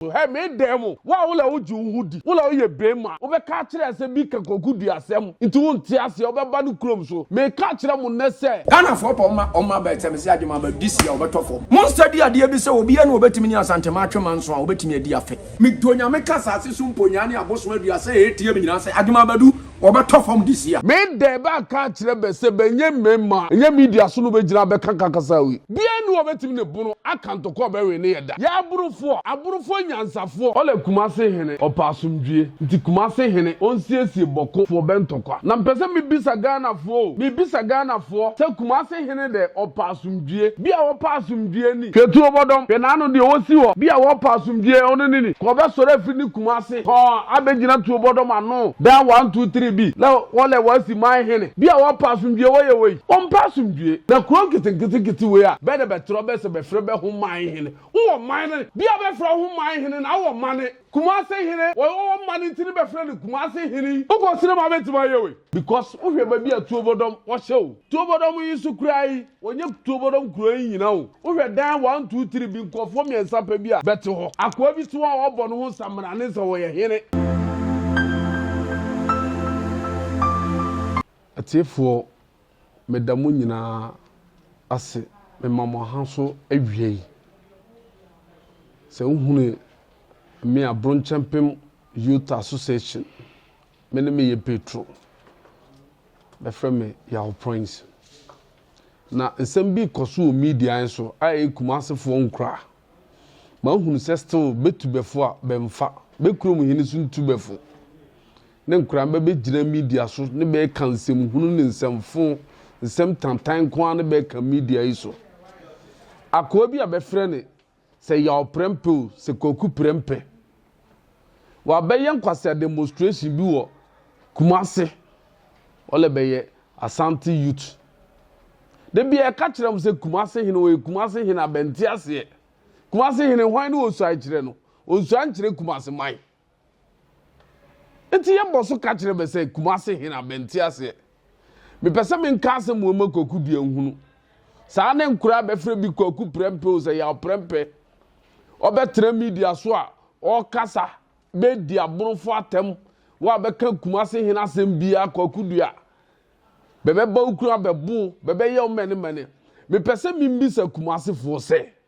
Hɛ me dan mu. Wo a wo na wogye wo ho di, wo na woyɛ beema, wobɛka akyerɛ sɛ bi ka kwaku dua asɛm nti wonte aseɛ, wobɛba no kurom so. Meka akyerɛ mo nnɛ sɛ. Ghanafoɔ pɛ ɔma, ɔma aba ɛkyɛ me sɛ agye mo aba this year ɔbɛtɔ fam. Mo study adeɛ bi sɛ obiara ni a ɔbɛtumi ne Asantema atwe manso a ɔbɛtumi adi afe. Medɔ Nyame ka asase so mponyaa ne abosom adua sɛ ɛyɛ team nyinaa sɛ agye mo abadu wɔbɛtɔ fam this year. Me dɛ bɛ aka akyerɛ bɛ sɛ bɛ nyɛ mmɛma ɛnyɛ media so no bɛ gyina bɛ ka ka kasaa wei bia nni hɔ bɛtumi ne bono aka ntɔkwa bɛ wene yɛ da yɛ aborofoɔ aborofoɔ nyansafoɔ ɔlɛ kumase hene ɔpɛ asomdwie nti kumase hene ɔnsiesie bɔko foɔ bɛ ntɔkwa na mpɛ sɛ me bisa Ghana foɔ o me bisa Ghana foɔ sɛ kumase hene dɛ ɔpɛ asomdwie, bi a wɔpa asomdwie ni. Hwɛ tuobɔdɔm, hwɛ n'ano deɛ ɔsi hɔ, bi a wɔpa asomdwie, ɔno ne ni. Ka ɔbɛsɔre afiri ne kuma ase hɔ abɛgyina tuobɔdɔm ano, daa one two three bi, lɛ wɔlɛ wɔasi man hene, bi a wɔpa asomdwie, wɔyɛ wei, wɔmpɛ asomdwie. Na kuro nketenketenkete wei a, bɛ na bɛtrɔ bɛ sɛ bɛfrɛ bɛ ho man hene, wowɔ man ne, bi a bɛfrɛ wo ho man hene na wowɔ mane. Kumase hene wɔ ɔwɔ mma no nti ne bɛfrɛ no kumase hene yi wokɔ sere ma bɛtumi ayɛ wei because wohwɛ baabi a tuobɔdɔm wɔhyɛ o tuobɔdɔm yi nso koraa yi wɔnyɛ tuobɔdɔm kuro yi nyina o wohwɛ dan one two three bi nkurɔfoɔ mmiɛnsa pɛ bi a bɛte hɔ akoa bi te hɔ a wɔbɔ ne ho samina ne sɛ wɔyɛ hene. Atiefoɔ. meda mo nyinaa ase mema mo aha so awia yi. Sɛ wohunu me a, Bronkyɛmpem Youth Association, me ne me yɛ Petro. Bɛfrɛ me Yaw Proince. Na nsɛm bi kɔ so wɔ media yi so a ɛyɛ Kumasefoɔ nkura. Mahunu sɛ still bɛtubɛfo a bɛmfa, bɛkurom hene so ntubɛfo. ne nkora bɛbɛgyina media so ne bɛreka nsɛm hunu ne nsɛm fo, nsɛm tantan nko ara ne bɛreka media yi so. Akoa bi a bɛfrɛ ne sɛ Yaw Prɛmpeo sɛ Kwaku Prɛmpɛ. Wabɛyɛ nkwasea demonstration bi wɔ Kumase. Ɔlɛ bɛyɛ Asante youth. Da bi a ɛka kyerɛ m sɛ Kumase hene ɔyɛ Kumase hene a bɛnte aseɛ. Kumase hene hwan ne ɔnsuae kyerɛ no? Ɔnsuae nkyerɛ Kumase man. Enti yɛbɔ so ka kyerɛ bɛ sɛ, Kumase he na bɛnte aseɛ. Mepɛ sɛ menka asɛm wei ma Kwaku deɛ nhunu. Saa ne nkoraa bɛfrɛ bi Kwaku Prɛmpɛ o, sɛ Yaw Prɛmpɛ. Ɔbɛtena media so a, ɔɔkasa, bɛɛdi aborofo atɛm, woabɛka Kumase he asɛm biaa Kwaku deɛ a, bɛbɛba wo kunu abɛbo wo, bɛbɛyɛ wo mɛnemɛne. Mepɛ sɛ membisa Kumasefoɔ sɛ.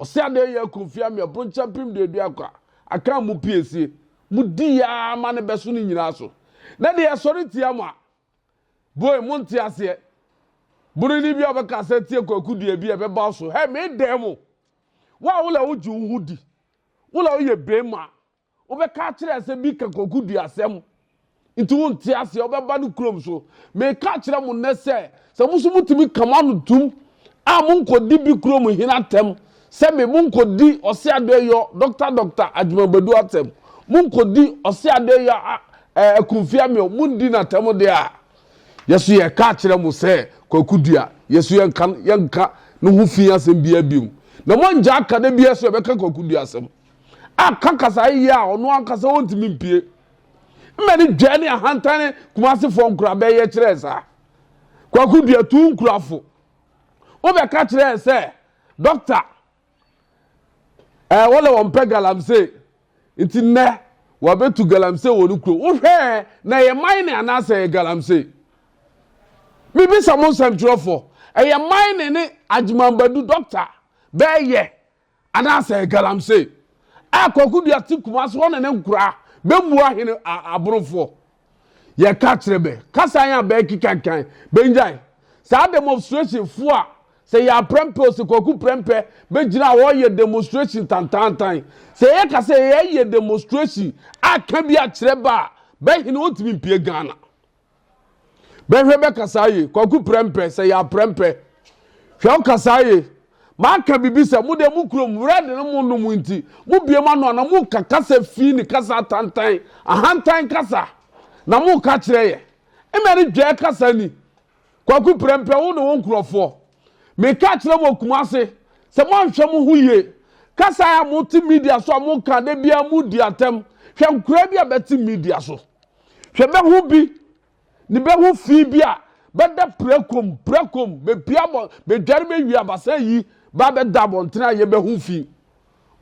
Ɔse adɛn yɛ aku mfeɛ amia bronkyɛ mpem deɛ dua kwa aka mu pie sie mo di yaa ma ne bɛso ne nyinaa so na deɛ ɛsɔre tia mo a boy mo nte aseɛ boroni bi a ɔbɛka sɛ tie kwaku deɛ bi a ɛbɛba so hɛ me dɛn mo wo a wo la wogye wo ho di wo la woyɛ bɛma Wobɛka akyerɛ sɛ bi ka kokoduasɛm nti wonte aseɛ wobɛba no kurom so meka kyerɛ mo nnɛ sɛ sɛ mo so motumi ka mo ano tum a monkɔdi bi kurom hene atɛm sɛ me monkɔdi ɔse adɔyɔ dɔkta dɔkta adwumabadu atɛm monkɔdi ɔse adɔyɔ akumfia meɔ mondi no atɛm deɛ a yɛso yɛka akyerɛ mo sɛ kwakudua yɛso yɛnka yɛnka ne ho fi asɛm biaa biom na moangya aka da biaa so yɛbɛka kwakudua asɛm aka kasae yie a ɔno ankasa ɔntumi mpie. Mma ne dwa ne ahantane kumasefoɔ nkurabɛ yɛ kyerɛɛ saa. Kwaku dua tu nkurafo. Wobɛka kyerɛɛ sɛ dɔkta ɛɛ wɔlɛ wɔn pɛ galamsey nti nnɛ wɔabɛtu galamsey wɔ ne kuro. Wohwɛɛ na ɛyɛ man ne anaasɛ ɛyɛ galamsey? Mebisa mo nsɛmtwerɛfoɔ ɛyɛ man ne ne agyemanbadu dɔkta bɛɛyɛ Anaasɛ galamsey a kwaku dua te Kumasi hɔ ne ne nkoraa bɛmmua hene a aborofoɔ yɛka kyerɛ bɛ kasa yɛn a bɛɛkekankan bɛngyae saa demonstration foɔ a sɛ yɛ aprɛmpɛ o sɛ kwaku prɛmpɛ bɛgyina hɔ yɛ demonstration tantaantan sɛ yɛ ka sɛ yɛ yɛ demonstration a ka bi akyerɛ bɛ a bɛ hene ɔntumi mpie Ghana. bɛhwɛ bɛkasa ye kwaku prɛmpɛ sɛ yɛ aprɛmpɛ hwɛ ɔkasa ye maka bibi sɛ mo deɛ mo kurom wura de no mo nom nti mo bie ma no ana mo ka kasa fi ne kasa atantan ahantan kasa na mo ka kyerɛ yɛ mmɛ ne dwɛ kasa ni kwaku prɛmpɛ wo ne wo nkurɔfoɔ meka kyerɛ mo kuma ase sɛ moanhwɛ mo ho yie kasa a mote media so a moka da biara modi atɛm hwɛ nkora bi a bɛte media so Hwɛ bɛho bi ne bɛho fi bi a bɛda pirakom pirakom bɛpia bɔ bɛdware bɛwie abasa yi ba bɛda abɔntene a yɛ bɛho fi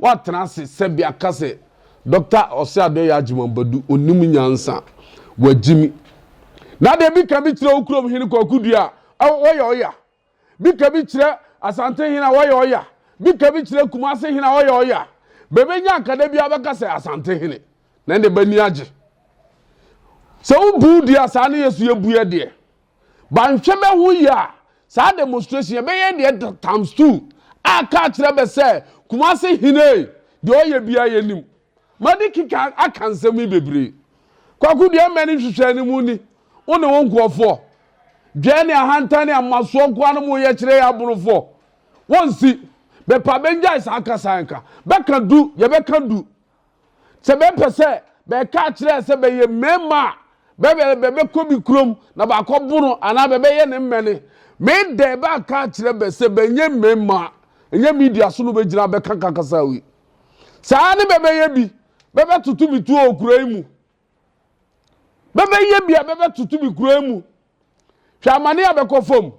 wɔatena ase sɛbi aka sɛ Dɔkta Ɔseadɔyɛ Agyeman Badu ɔnim nyansa wagyimi na deɛ bi ka bi kyerɛ wo kurom hene Kwaku Dua a ɔyɛ ɔya Bika bi kyerɛ Asante hene a wɔyɛ ɔya. Bika bi kyerɛ Kumase hene a wɔyɛ ɔya. Bɛbɛnya akada bi abɛka sɛ Asante hene. Na ɛnde bani agye. Sɛ wobuw deɛ a saa ne yɛ so yɛbuɛ deɛ. Banhwɛ bɛ ho yie a, saa demonstration yɛbɛyɛ deɛ times two a ka kyerɛ bɛ sɛ Kumase hene deɛ ɔyɛ biara yɛnim. Madi keka aka nsɛm yi bebree. Kwaku deɛ mmɛ ne nhwehwɛɛ no mu ni, wo ne wo nkurɔfoɔ. Dwɛɛ ne ahantan ne amasoɔ nkoa no mo yɛ kyerɛ yɛ aborofoɔ. Wo nsi. Bɛpa bɛngyae saa kasa nka. Bɛka du, yɛ bɛka du. Sɛ bɛ pɛ sɛ bɛka akyerɛ sɛ bɛ yɛ mmarima a, bɛ bɛ bɛ bɛ kɔ bi kurom na bɛakɔ bo no anaa bɛ bɛ yɛ ne mmɛne. Me dɛ bɛ aka akyerɛ bɛ sɛ bɛ nyɛ mmarima a, ɛnyɛ media so no bɛ gyina bɛka ka kasa wei. saa ara ne bɛbɛyɛ bi bɛbɛtoto me tuo wɔ kuro yi mu bɛbɛyɛ bi a bɛbɛtoto me kuro yi mu hwɛ amane a bɛkɔ fam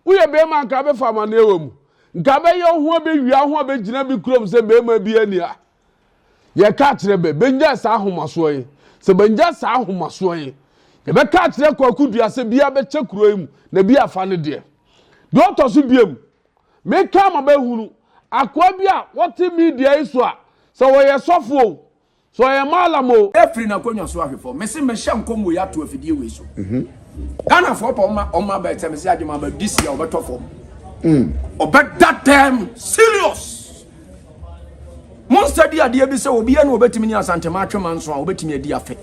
woyɛ bɛrima nka bɛfa amaneɛ wɔ mu nka bɛyɛ ho bɛwia ho a bɛgyina bi kurom sɛ bɛrima bi ani a yɛka kyerɛ bɛ bɛnya saa ahomasoɔ yi sɛ bɛnya saa ahomasoɔ yi yɛbɛka kyerɛ kwakodua sɛ bia bɛkyɛ kuro yi mu na bi afa no deɛ deɛ ɔtɔ so biam Meka ma bɛhunu akoa bi a ɔte media yi so a, sɛ ɔyɛ sɔfo o, sɛ ɔyɛ mallam o, Firi n'akonnwa so ahwɛ fam. Mese mehyɛ nkɔm wei ato afidie wei so. Ghanafoɔ pɛ ɔma ɔma bɛ sɛ mese agye ma bɛ this year ɔbɛtɔ fam. Ɔbɛda dɛm serious. Monsa di adeɛ bi sɛ obiara na obetumi ne Asantema atwe manso a obetumi adi afe.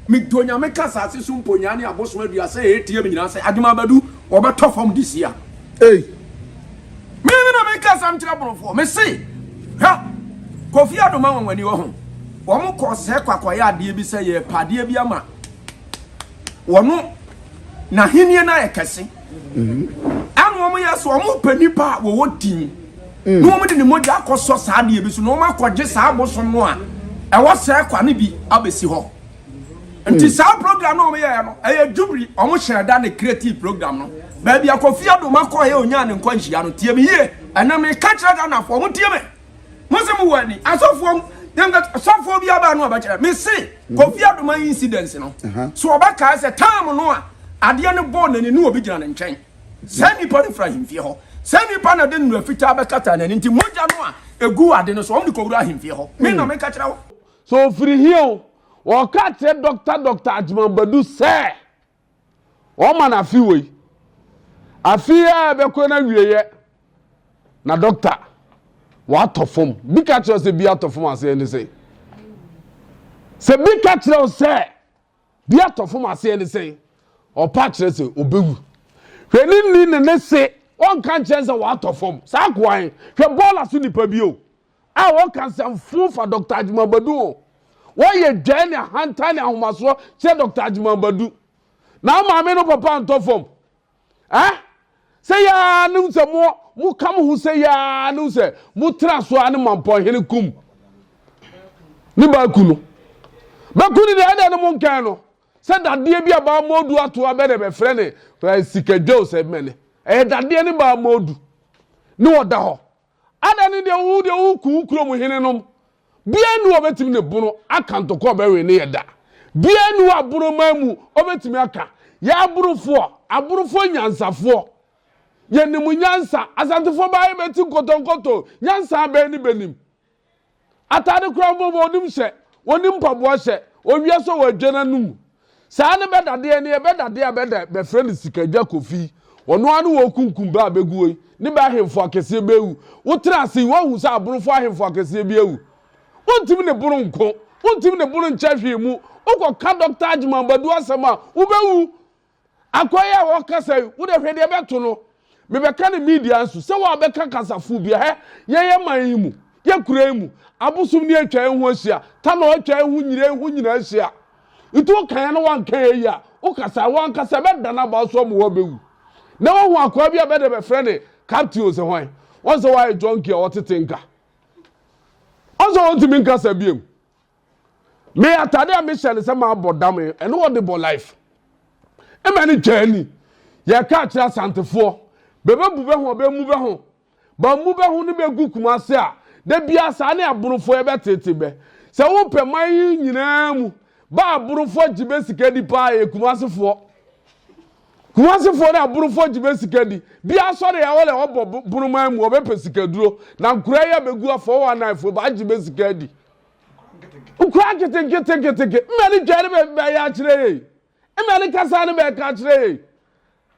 Medɔ Nyame ka asase so mponyaa ne abosom aduasa a ɛreteam nyinaa sɛ adom abɛdu wɔbɛtɔ fam this year. Ei! Me na meka asɛm kyerɛ Borɔfoɔ. Mese, hwɛ, Kofi Adom anwanwani wɔ ho. Wɔn kɔɔ sɛɛ kɔ akɔyɛ adeɛ bi sɛ yɛrepɛ adeɛ bi ama. wɔn n'ahenni no ayɛ kɛse ɛna wɔn yɛ so wɔn pɛ nipa a wɔwɔ din na wɔn de ne mogya akɔsɔ saa adeɛ bi so na wɔn akɔgye saa abosom no a ɛwɔ sɛ kwa no bi abɛsi hɔ nti saa program no wɔn yɛ no ɛyɛ jubiri wɔn hyɛ da ne creative program no baabi akɔfi adoma kɔɔ yɛ onyaa ne nkwanhyia no tie me yie ɛnam ne kakyira ghana fo wɔn tie me. Mo se mo wɔ ani asɔfoɔ mu dem ka sɔfoɔ bi aba no ɔbɛkyerɛ me se mhm. Kofi Adoma incident no so ɔbɛkaa sɛ time no a adeɛ no bɔɔ n'ani ne obi gyina ne nkyɛn saa nipa no fira ahemfie hɔ saa nipa na de nnura fitaa bɛkata n'ani nti mogya no a egu ade no so wɔn de kɔwura ahemfie hɔ me na hmm. meka kyerɛ wo so ofiri hia o wɔka kyerɛ dɔkta dɔkta agyemambadu sɛ Wɔma no afe wei. Afe yi a ɛbɛkɔ no awieeɛ na dɔkta watɔ fam. Bi ka kyerɛ sɛ bi atɔ fam aseɛ ne sɛn? Sɛ bi ka kyerɛ wo sɛ bi atɔ fam aseɛ ne sɛn? Ɔpa kyerɛ sɛ ɔbɛwu. Hwɛ ne ni ne ne se ɔnka nkyɛn sɛ watɔ fam. Saa koan hwɛ bɔɔla so nipa bio. a wɔka nsɛm fo fa Dɔkta Agyemang Badu ho. Wɔyɛ dwae ne ahantan ne ahomasoɔ kyerɛ Dɔkta Agyemang Badu. Na wo maame no papa ntɔ fam. Eh? Sɛ yaa ne sɛ mo mo ka mo ho sɛ yaa ne sɛ mo tra so a ne mampɔnhene kum ne baaku no. Bɛku ne deɛ ɛdɛ no mo nkɛn no sɛ dadeɛ bi a baa mɔdu ato abɛ dɛ bɛfrɛ ne eh, sikadwa o sɛ mɛne ɛyɛ dadeɛ ne baa mɔdu ne ɔda hɔ Adɛn ne deɛ wo deɛ woku wo kurom henenom? Biara nni hɔ a ɔbɛtumi ne bono aka ntɔkwa a ɔbɛwe ne yɛ da. Biara nni hɔ a boroman mu ɔbɛtumi aka. Yɛn aborofoɔ, aborofoɔ nyansafoɔ, yɛnim nyansa. Asantefoɔ baa yɛbɛti nkɔtɔnkɔtɔ, nyansa bɛn ne bɛnim? Atade koraa mpo ma ɔnim hyɛ, ɔnim mpaboa hyɛ, ɔwie nso wadwa n'anom. Saa ne bɛdadeɛ no yɛ, bɛdadeɛ a bɛda bɛfrɛ no Sikadwa Kofi yi, ɔno ara ne wɔrekunkum bɛ a bɛguo yi, ne bɛ ahemfo akɛseɛ bɛ awu. Wotena ase yi, woahu sɛ Aborofoɔ ahemfo akɛseɛ bi awu? Wontumi ne bono nko, wontumi ne bono nkyɛ hwee mu, wokɔka Dɔkta Agyeman Badu asɛm a, wobɛwu. Akwa yi a wɔkasa yi, wo de hwɛ deɛ ɛbɛto no. Mebɛka no media nso sɛ wɔabɛka kasafoɔ bi a, hɛ, yɛn yɛ man yi mu, yɛ kura yi mu, abosom ni atwa yɛn ho ahyia, tanɔ atwa yɛn ho nyina, ɛho nyina ahyia. Nti woka yɛn na woanka yɛn yi a, wokasa a, wo ankasa ɛbɛda no aba wo so ama woabɛwu. Nnɛ woahu akwaa bi a bɛde bɛfrɛ ne Captain Ose hwan? Wɔn sɛ woayɛ junkie a wɔtete nka. Wɔn sɛ wɔntumi nkasa biom. me atade a mehyɛ no sɛ mabɔ dam ɛne wɔde bɔ life ɛma ne twaa ni yɛka akyerɛ asantefoɔ bɛbɛbu bɛ ho bɛmu bɛ ho bɛmu bɛ ho ne bɛgu kuma ase a da bia saa ne aborofoɔ yɛbɛtete bɛ sɛ wopɛ man yi nyinaa mu ba aborofoɔ gye bɛ sika di paa yɛ kuma asefoɔ kuma asefoɔ ne aborofoɔ gye bɛ sika di bia sɔre a wɔlɛ wɔbɔ boroman mu wɔbɛpɛ sikaduro na nkora yɛ bɛgu afɔ wɔ anaifoɔ ba agye bɛ sika di wokura nketenketenketeke mmɛ ne dware bɛ bɛyɛ akyerɛ yɛ mmɛ ne kasa ne bɛka akyerɛ yɛ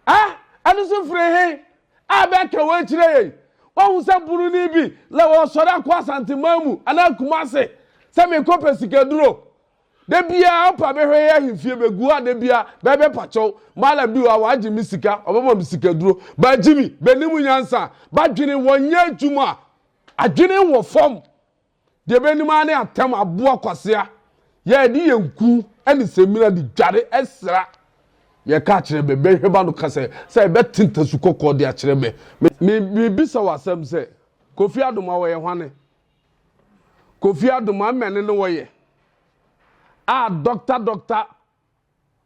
a ɛno so firi he a bɛka wɔ akyerɛ yɛ wahu sɛ buroni bi la wɔsɔre akɔ asanteman mu anaa kuma ase sɛ mekɔ pɛ sikaduro da biara ɔpa bɛhwɛ yɛ ahemfie bɛgu a da biara bɛbɛ pakyɛw mala bi wɔ a wɔagye me sika ɔbɛma me sikaduro baagye mi bɛnim nyansa badwene wɔnyɛ adwuma adwene wɔ fam Deɛ ɛbɛnim ara ne atɛm aboa kwasea. Yɛde yɛn ku ne samina de dware sra. Yɛka kyerɛ me, bɛhwɛba no ka sɛ, sɛ ɛbɛte ntasu kɔkɔɔ de akyerɛ me. Me, mebisa wo asɛm sɛ, Kofi Adomah wɔyɛ hwane? Kofi Adomah mmɛne ne wɔyɛ? Ah, Doctor, Doctor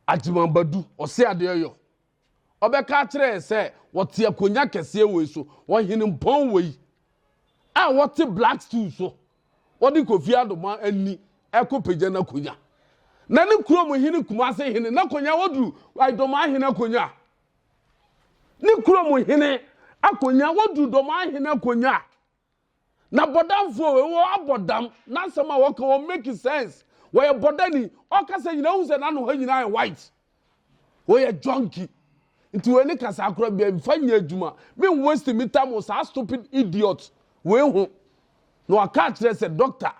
Agyemang Badu, ɔse adeɛ yɔ. Ɔbɛka akyerɛ yɛn sɛ wɔte akonnwa kɛseɛ wei so, ɔhene mpɔn wei a wɔte black stool so, wɔde Kofi Adoma ani ɛkɔpagya n'akonnwa. Na ne kurom hene Kumase hene n'akonnwa wɔduru Dɔmaa hene akonnwa. Ne kurom hene akonnwa wɔduru Dɔmaa hene akonnwa. na bɔdamfoɔ wei wɔ abɔ dam n'asɛm a wɔka wɔ make sense wɔyɛ bɔdani ɔkasa nyinaa hu sɛ n'ano ha nyinaa yɛ white wɔyɛ junkie nti wei ne kasa akora bia mfa nyɛ adwuma me waste me time wɔ saa stupid idiot wei ho na waka akyerɛ sɛ doctor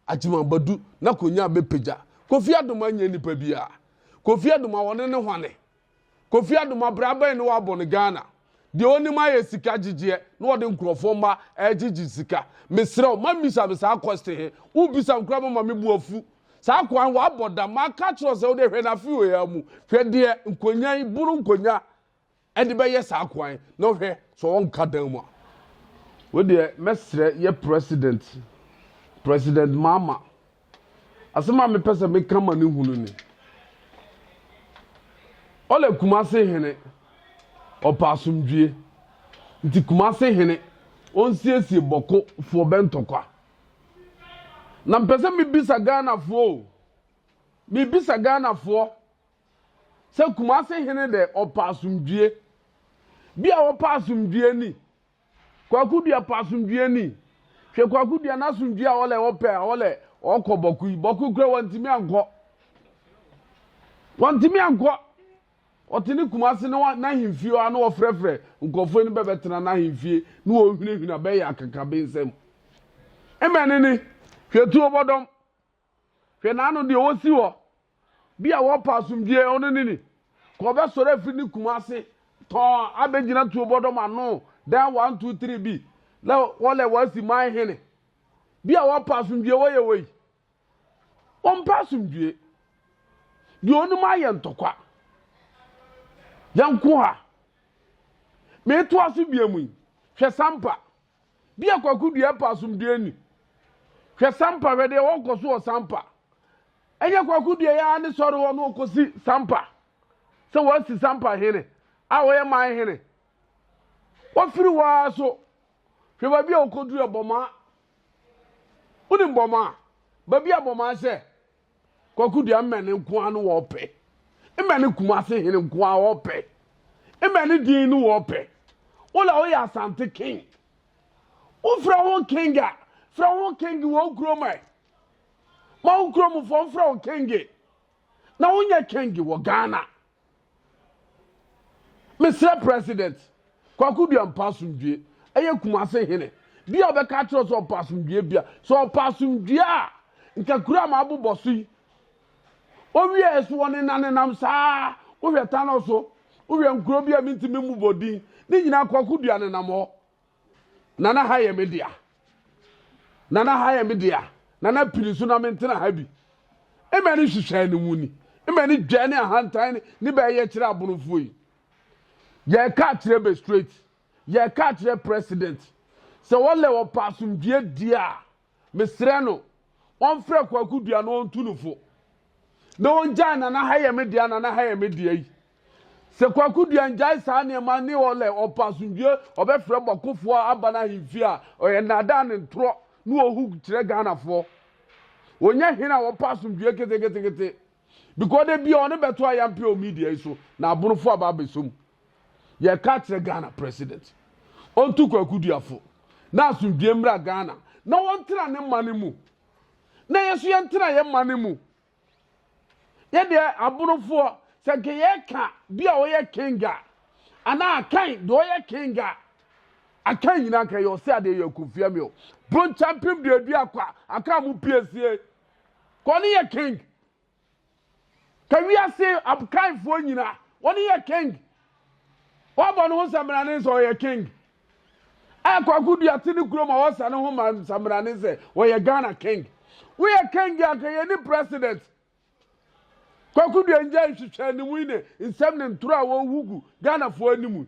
Agyima Badu na Konyaa bɛpagya Kofi Adoma nyɛ nipa biaa Kofi Adoma wɔne no hwane Kofi Adoma bra bɛn ne wabɔ no Ghana deɛ ɔnim ayɛ sika gyegyeɛ na ɔde nkorɔfoɔ mma ɛgyegye sika mesrɛ wo ma mmisa me saa question he wo bisa me koraa bɛma me bo afu saa akoa he wabɔ dam maka akyerɛ wo sɛ wode hwɛ no afe wei ara mu hwɛ deɛ Nkonyaa yi boro Nkonyaa ɛde bɛyɛ saa kwan na hwɛ sɛ wɔnka dan mu a. Wei deɛ mɛsrɛ yɛ president president maama asɛm a mepɛ sɛ meka ma ne hunu ni ɔlɛ kumase hene ɔpɛ asomdwie nti kumase hene ɔnsiesie bɔko foɔ bɛntɔkwa na mpɛ sɛ mebisa ghanafoɔ o mebisa ghanafoɔ Sɛ Kumase hene dɛ ɔpɛ asomdwie. Bi a ɔpɛ asomdwie ni. Kwaku Dua pɛ asomdwie ni. Hwɛ Kwaku Dua n'asomdwie a ɔlɛ ɔpɛ a ɔlɛ ɔkɔ Bɔko yi. Bɔko kura wɔntumi ankɔ. Wɔntumi ankɔ. Ɔte ne Kumase ne n'ahemfie hɔ a na ɔfrɛfrɛ nkurɔfoɔ ni bɛbɛtena n'ahemfie ne wɔhwinahwina bɛyɛ akakabensɛm. Mmɛne ni. Hwɛ tuo bɔdɔm. Hwɛ n'ano deɛ ɔsi hɔ. Bi a wɔpɛ asomdwie, ɔno ne ni. Ka ɔbɛsɔre afiri ne kuma ase tɔn abɛgyina tuo bɔdɔm ano, dan one two three bi, na wɔlɛ wɔasi man hene. Bi a wɔpɛ asomdwie, wɔyɛ wei. Wɔmpɛ asomdwie. Deɛ ɔnim ayɛ ntɔkwa. Yɛnko ha. Meto aso bia mu yi, hwɛ sampa. Dear Kwaku deɛ ɛpɛ asomdwoeɛ ni. Hwɛ Sampa hwɛ deɛ wɔkɔ so wɔ Sampa. Ɛnyɛ Kwaku deɛ yɛ ara ne sɔre hɔ na ɔkɔsi Sampa sɛ wɔasi Sampa hene a ɔyɛ man hene. Wafiri hɔ ara so hwɛ baabi a ɔkɔduru Bɔmaa. Wonim Bɔmaa? Baabi a Bɔmaa hyɛ Kwaku deɛ mmɛne nko ara no wɔpɛ. Mmɛne Kumase hene nko ara wɔpɛ. Mmɛne din no wɔpɛ. Wola woyɛ Asante king. Wofrɛ ho king a, frɛ ho king wɔ wo kurom ɛ. Ma wo kuromfoɔ mfrɛ wo king. Na wonyɛ king wɔ Ghana. Mesrɛ President Kwaku Duah mpa asomdwie ɛyɛ Kumase hene bi a ɔbɛka akyerɛ wo sɛ ɔpɛ asomdwie bia. Sɛ ɔpɛ asomdwie a, nka kuro a mabobɔ so yi, ɔwie ɛso wɔ ne nanenam saa, wohwɛ Tanɔ so, wohwɛ nkuro bi a mentumi mmobɔ din, ne nyinaa Kwaku Duah nenam hɔ. Nana ha yɛ me dea. Nana ha yɛ me dea. Nana pini so na me ntena ha bi. Mmɛ ne hwehwɛ ne mu ni. Mmɛ ne dwa ne ahantan ne ne bɛyɛ kyerɛ abonofo yi. Yɛ ka kyerɛ be straight. Yɛ ka kyerɛ president. Sɛ wɔlɛ wɔpɛ asomdwie die a. Mesrɛ no ɔmfrɛ Kwaku Dua na ɔntu no fo na ɔngyae Nana ha yɛ me dea, Nana ha yɛ me dea yi. Sɛ Kwaku Dua ngyae saa nneɛma ne ɔlɛ ɔpɛ asomdwie ɔbɛfrɛ bɔkofoɔ aba no ahemfie a ɔyɛ nnaadaa ne ntorɔ na ɔhu kyerɛ Ghanafoɔ. Ɔnyɛ hene a ɔpɛ asomdwie keteketekete because da bia ɔne bɛto ayampe wɔ media yi so na abonofoɔ aba abɛsɔ mu. yɛka kyerɛ ghana president ɔntu kwaku duafo na asomdwie mmra ghana na wɔntena ne mma no mu na yɛ so yɛntena yɛ mma no mu yɛdeɛ aborofoɔ sɛ nka yɛka bi a ɔyɛ kenga anaa akan deɛ ɔyɛ kenga akan nyina nka yɛ ɔsɛ adeɛ yɛ kofia mi o bronkyɛ mpem duadua kwa aka mu piesie kɔ ne yɛ king Ka wiase abkanfoɔ nyina, wɔne yɛ king. Wɔabɔ ne ho sambrane sɛ ɔyɛ king. A Kwaku Dua te ne kurom a wɔsa ne ho ma sambrane sɛ ɔyɛ Ghana king. Woyɛ king a nka yɛni president. Kwaku Dua ngyae nhwehwɛanimu yi ne nsɛm ne ntoro a wɔhugu Ghanafoɔ anim.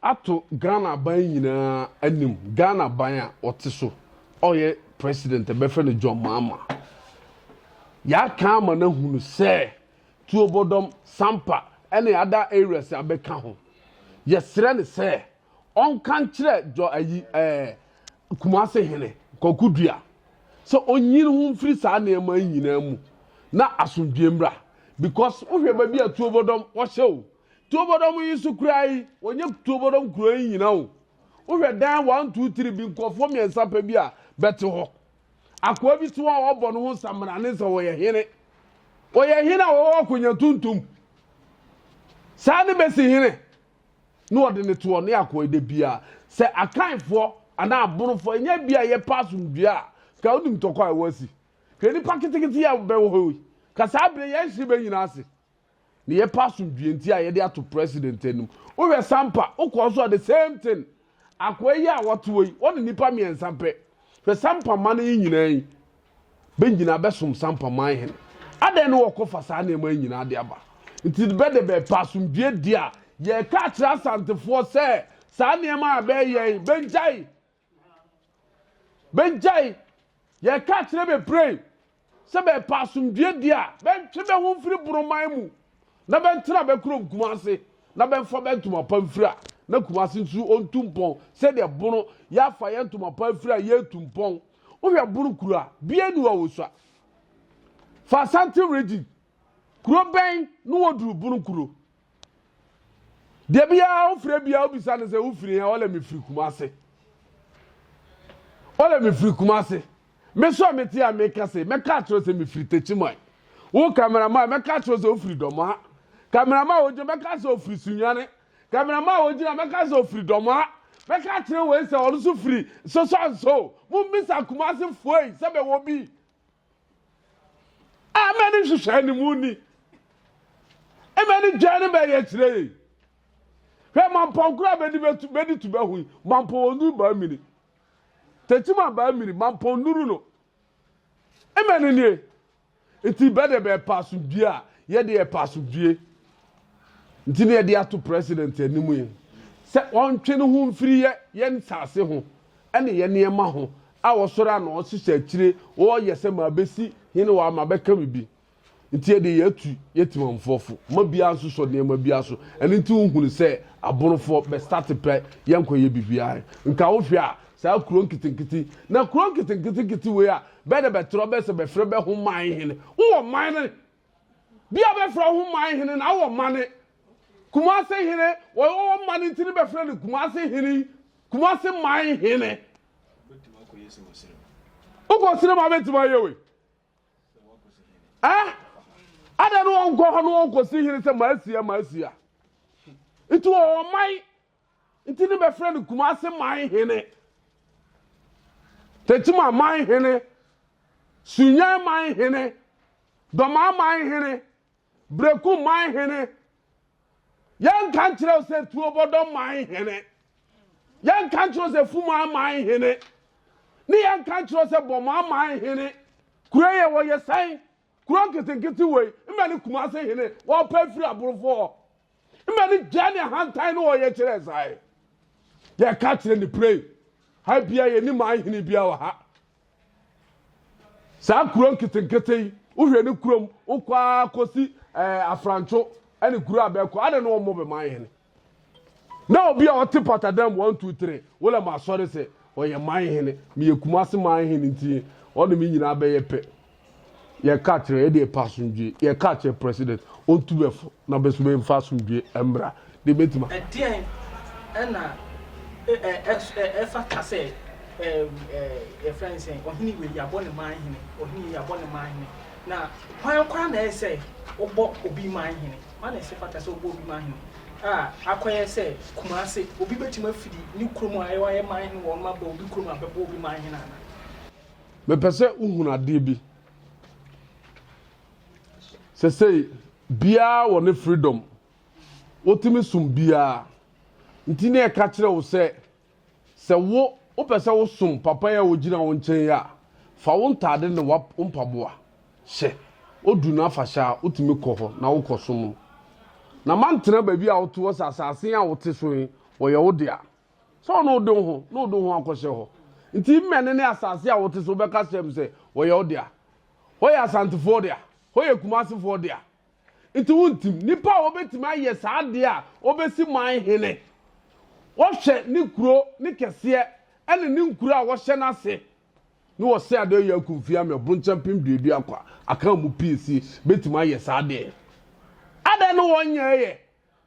ato Ghana aban nyinaa anim, Ghana aban a ɔte so a ɔyɛ president a yɛbɛfrɛ no John Mahama. Yɛaka ama no ahunu sɛ Tuobodɔm, Sampa ne other areas a bɛka ho. Yɛsrɛ no sɛ ɔnka nkyerɛ Jɔ ayi ɛɛ Kumase hene Kwaku Dua sɛ ɔnyi ne ho mfiri saa nneɛma yi nyinaa mu na asomdwoeɛ mmra because wohwɛ baabi a Tuobodɔm wɔhyɛ o, Tuobodɔm yi so kura yi, wɔnyɛ Tuobodɔm kuro yi nyina o. Wohwɛ dan one two three bi nkurɔfoɔ mmiɛnsa pɛ bi a bɛte hɔ. Akoa bi so a ɔbɔ ne ho samina ne sɛ ɔyɛ hene. Ɔyɛ hene a ɔwɔ akonnwa tuntum. Saa ne bɛsi hene. Na ɔde ne toɔ ne akoa da bia. Sɛ akanfoɔ anaa abonofoɔ ɛnyɛ bi a yɛpɛ asomdwoeɛ a ka wonim tɔkɔ a ɛwɔ asi. Hwɛ nipa ketekete yi a bɛwɔ hɔ yi. Ka saa berɛ yɛn hye bɛ nyina ase. Ne yɛpɛ asomdwie nti a yɛde ato president anim. Wohwɛ Sampa, wokɔɔ so a the same thing. Akoa yi a wɔte hɔ yi, wɔne nipa mmiɛnsa pɛ. Hwɛ Sampa man yi nyinaa yi, bɛnyinaa bɛsom Sampa man hene. Adɛn ne wɔkɔfa saa nneɛma yi nyinaa de aba? Nti bɛ de bɛpɛ asomdwie di a, yɛka akyerɛ Asantefoɔ sɛ saa nneɛma a bɛɛyɛ yi, bɛngyae. Bɛgyae. Yɛka akyerɛ bebree sɛ bɛrepɛ asomdwoeɛ deɛ a, bɛntwe bɛ ho mfiri Boroman mu na bɛntena bɛ kurom Kumase na bɛmfa bɛ ntoma pa mfiri a na Kumase nso ɔntu mpɔn sɛdeɛ Bono yɛafa yɛn ntoma pa afiri a yɛretu mpɔn. Wohwɛ Bono kuro a, bia nni hɔ a wɔsua. Fa Asante region kuro bɛn na wɔduru Bono kuro? deɛ biara wofrɛ biara wobisa no sɛ wofiri hɛ ɔlɛ mefiri kuma ase ɔlɛ mefiri kuma ase mesɔ mete a meka se mɛka akyerɛ sɛ mefiri takyiman wo kamerama mɛka akyerɛ sɛ wofiri dɔmaa kamerama wogyina mɛka sɛ ofiri sunwane kamerama wogyina mɛka sɛ ofiri dɔmaa mɛka akyerɛ wei sɛ ɔno so firi sosɔnso mommisa kuma ase foei sɛ bɛwɔ bi Ɛmɛ ne nhyehyɛe no mu ni. Ɛmɛ ne dwan no bɛyɛ kyerɛ yɛ. Hwɛ mampɔ nkoro a bɛdi bɛtu bɛdi tu bɛho yi mampɔ wɔn nuru baa mini. Tɛti ma baa mini mampɔ nuru no. Ɛmɛ ne nie. Nti bɛde bɛpa asomdwie a yɛde yɛpa asomdwie. Nti ne yɛde ato president anim yi sɛ ɔntwe ne ho mfiri yɛ yɛn saase ho ne yɛn nneɛma ho a wɔsɔre ano hyehyɛ akyire wɔyɛ sɛ mabɛsi hene wɔ a mabɛka me bi nti yɛde yɛatu yɛ timamfoɔfo ma biara nso sɔ nneɛma biara so ɛno nti wohunu sɛ aborofoɔ bɛstate pɛ yɛnkɔ yɛ biribiara nka wohwɛ a saa kuro nketenkete na kuro nketenketenkete wei a bɛdɛ bɛtorɔ bɛsɛ bɛfrɛ bɛho man hene wowɔ man no Bi a bɛfrɛ wo ho man hene na wɔ mane. Kumase hene, wɔwɔ mane nti ne bɛfrɛ no Kumase hene, Kumase man hene. Wokɔ sere ma bɛtumi ayɛ wei. Eh? Ada no wɔnkɔ hɔ no wɔnkɔsi hene sɛ maasia maasia. Nti wɔwɔ man Nti ne bɛfrɛ no Kumase man hene, Tekyima man hene, Sunyɛn man hene, Dɔmaa man hene, Breku man hene. Yɛnka nkyerɛ wo sɛ Tuobɔdɔ man hene, yɛnka nkyerɛ wo sɛ Fumaa man hene, ne yɛnka nkyerɛ wo sɛ Bɔmaa man hene. Kuro yɛ wɔyɛ sɛn? Kuro nketenkete wei, mmɛ ne Kumase hene, wɔpɛ firi aborofo hɔ. mma no gyaa ne ahantan no ɔyɛ kyerɛ saa ɛ yɛka kyerɛ ne pray ha bia yɛni ma ahene bia wɔ ha saa kuro nketenkete yi wohwɛ ne kurom wokɔ ara kɔsi ɛɛ eh, afrantwo ɛne kuro a bɛkɔ adɛ ne wɔmmɔ bɛma ahene na obi a ɔte patadam one two three wọlé ma asɔre sɛ ɔyɛ man hene meyɛ kumase man hene nti ɔne me nyinaa bɛyɛ pɛ Yɛ ka kyerɛ yɛ deɛ pɛ asomdwie. Yɛ ka kyerɛ president ɔntu bɛ fo na bɛ so bɛ nfa asomdwie ɛmmra deɛ bɛ tuma. Ɛdeɛn ɛna ɛfata sɛ yɛfrɛ no sɛ ɔhene wei yɛabɔ no man hene, ɔhene wei yɛabɔ no man hene, na hwan koraa na ɛyɛ sɛ wobɔ obi man hene? Hwan na ɛsɛ fata sɛ wobɔ obi man hene? A akɔyɛ sɛ Kumase, obi bɛtumi afiri ne kurom a ɛwɔ ayɛ man hene wɔ wɔn aba obi kurom a bɛbɔ obi man hene anaa? Mepɛ sɛ wohunu adeɛ bi. Sɛsei, biara wɔ ne freedom. Wotumi som biara. Nti ne ɛka kyerɛ wo sɛ, sɛ wo wopɛ sɛ wosom papa yi a wogyina wo nkyɛn yi a, fa wo ntaade ne wo mpaboa hyɛ. Odu no afahyɛ a, wotumi kɔ hɔ na wokɔsom no. Na mantena baabi a wote hɔ sɛ asase a wote so yi, wɔyɛ wo dea. sɛ ɔno wode wo ho na wode wo ho akɔhyɛ hɔ nti mmɛne ne asase a wote so wobɛka kyerɛ m sɛ wɔyɛ wo dea hɔ yɛ asantefoɔ dea hɔ yɛ kumasefoɔ dea nti wontim nnipa a wɔbɛtumi ayɛ saa deɛ a wɔbɛsi man hene wɔhwɛ ne kuro ne kɛseɛ ɛne ne nkuro a wɔhyɛ no ase ne wɔsɛ adeɛ yɛ akumfie ama ɛbonkyɛn pem duadua kwa aka mu pii si bɛtumi ayɛ saa deɛ adɛn no wɔnyɛɛyɛ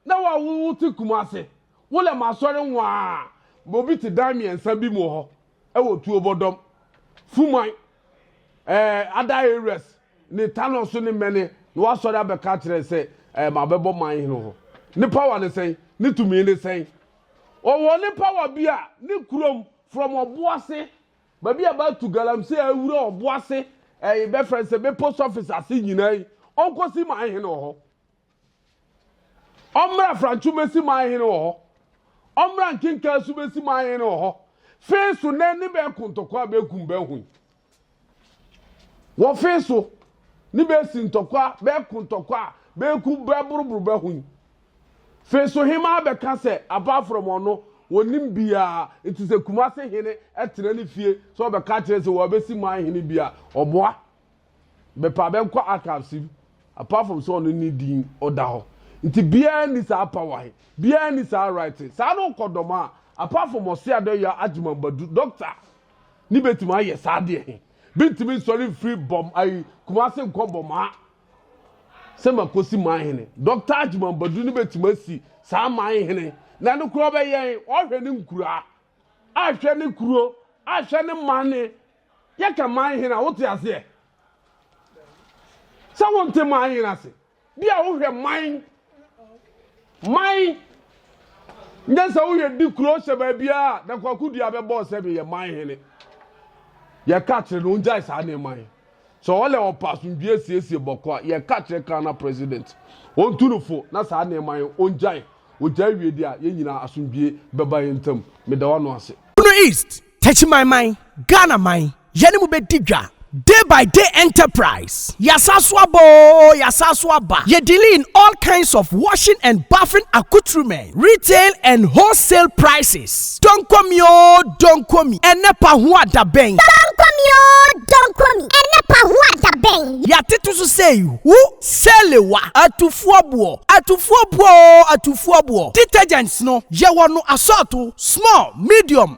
Na wo a wo ho te kum ase, wo lɛm asɔre nwaa! Ma obi te dan mmiɛnsa bi mu wɔ hɔ wɔ tuo bɔdɔm, fuman, ɛɛ, ada areas ne tanɔ so ne mmɛne na wasɔre abɛka akyerɛ sɛ ɛɛ, mabɛbɔ man hene ho. Ne power ne sɛn? Ne tumi ne sɛn? Ɔwɔ ne power bi a ne kurom from ɔboase baabi a bɛatu galamsey awura ɔboase ɛɛ, bɛfrɛ sɛ bɛ post office ase nyinaa yi, ɔnkɔsi man hene wɔ hɔ. Ɔmmra Franco mɛsi man hene wɔ hɔ Ɔmmra nkenkaa so mɛsi man hene wɔ hɔ Fee so nɛ ne bɛɛ kontɔkwa bɛɛ kum bɛɛ hoi Wɔ fee so ne bɛɛ si ntɔkwa bɛɛ kontɔkwa bɛɛ kum bɛɛ boroboro bɛɛ hoi Fee so hemaa bɛka sɛ apart from ɔno wɔnim biaa nti sɛ Kumase hene tena ne fie sɛ ɔbɛka kyerɛ sɛ wɔabɛsi man hene bi a ɔboa bɛpɛ a bɛnkɔ archives mu apart from sɛ ɔno ne din ɔda hɔ nti biara ni saa power he biara ni saa right saa na ɔkɔ dɔm a apart from ɔse adɔyɛ agyimambadu doctor ne bɛtumi ayɛ saa deɛ he bɛntumi nsɔre mfiri bɔm ayi kumase nkɔ bɔmaa sɛ makosi man hene doctor agyimambadu ne bɛtumi asi saa man hene na no korɔ bɛyɛn ɔhwɛ ne nkuraa ahwɛ ne kuro ahwɛ ne mane Yɛka man hene a, wote aseɛ? Sɛ wonte man hene ase, bi a wohwɛ man, man, nyɛ sɛ woyɛ di kuro hyɛ baabiara na kwaku dua bɛbɔɔ sɛ meyɛ man hene. Yɛka kyerɛ no ongyae saa nneɛma yi. Sɛ ɔlɛ ɔpa asomdwie siesie bɔkɔ a, yɛka kyerɛ Ghana president, ɔntu no fo na saa nneɛma yi ongyae. Ogyae wie deɛ a, yɛn nyinaa asomdwie bɛba yɛn ntam. Meda w'ano ase. Bono East, Techimanman, Ghana man, yɛne mo bɛdi dwa, Day by Day Enterprise, Yɛasan so aba oo, yɛasan so aba, yɛ dealing in all kinds of washing and bathing accoutrements, retail and wholesale prices, Donkomi oo, Donkomi, ɛnnɛ pa ho a da bɛn? Donkomi oo, Donkomi, ɛnnɛ pa ho a da bɛn? Yɛatete so sɛ ihu, sɛlewa, atufoɔ boɔ, atufoɔ boɔ oo, atufoɔ boɔ, detergents no, yɛwɔ no asɔɔto, small, medium,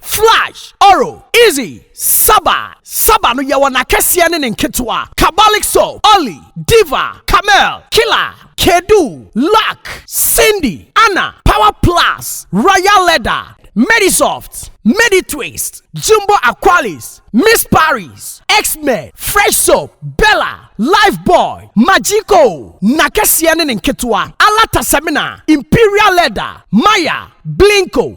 Flash, Oro, Izzy, Saba, Saba no yɛwɔ n'akɛseɛ ne ne nketewa, Kabalik Soap, Olly, Diva, Camel, Killer, Kedu, Luck, Cindy, Anna, Power Plus, Royal Leather, Medisoft, Meditwist, Jumbo Aqualis, Miss Paris, X-Men, Fresh Soap, Bella, Lifebuoy, Magico, n'akɛseɛ ne ne nketewa, Alata Semina, Imperial Leather, Maya, Blinko,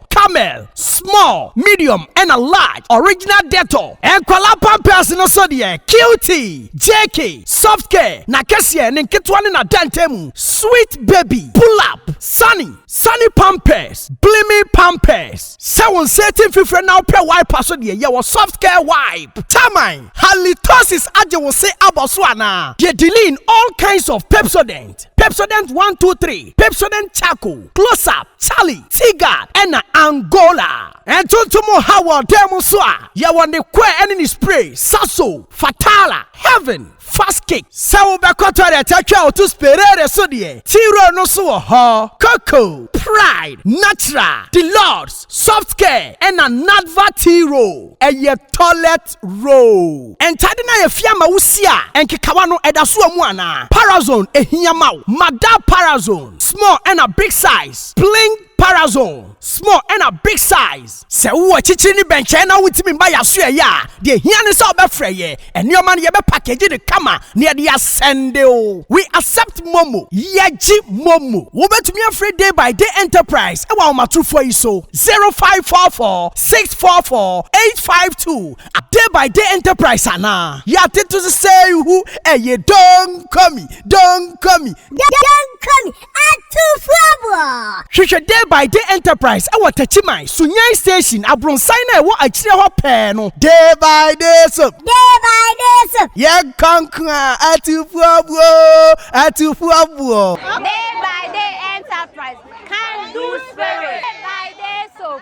Camel, small, medium ɛna large, original Dettol, nkwadaa pampers no so deɛ cutie, JK, soft care, n'akɛseɛ, ne nketewa ne n'adantamu, sweet baby, pull up, sunny, sunny pampers, blimi pampers, sɛ wo nsa ati mfifire na wopɛ wiper so deɛ yɛwɔ soft care wipe, taman, halitosis agye wo se abɔ so anaa? Deɛ diline all kinds of Pepsodent, Pepsodent 123, Pepsodent charcoal, close up, Charlie Tigard na Angola. Ntontom ha wɔ dan mu nso a, yɛwɔ ne kɔɛ ne ne spray, Sasso, Fatala, Heaven, Fast Kick. Sɛ wobɛkɔ toilet atwa a woto Sperere so deɛ, T-Roll no nso wɔ hɔ. Coco, Pride, Natural, Deluxe, Soft Care na Nadva T-Roll yɛ toilet. First row. Ntade no a yɛafia ama wo si a nkekawa no ɛda so wɔ mu anaa? Parazone ɛhia ma wo? Ma da Parazone small ɛna big size Pling Parazone small ɛna big size. Sɛ wowɔ akyikyiri ne bɛnkyɛn na wontumi mma yɛn aso ɛyɛ a, deɛ ɛhia ne sɛ wobɛfrɛ yɛn. Nneɛma no yɛbɛ package no kama na yɛde asɛnde wo. We accept momo. Yɛgye momo. Wobɛtumi afrɛ Day by Day Enterprise wɔ ahomatorofoɔ yi so, 0544. six four four eight five two a day by day enterprise anaa yɛate to so sɛ hu ɛyɛ donkomi donkomi donkomi atufoɔboɔ hwehwɛ day by day enterprise ɛwɔ takyiman sunyan station abronsan na ɛwɔ akyire hɔ pɛɛ no day by day so day by day so yɛn kankoa atufoɔboɔ atufoɔboɔ day by day enterprise can do spirit day by day so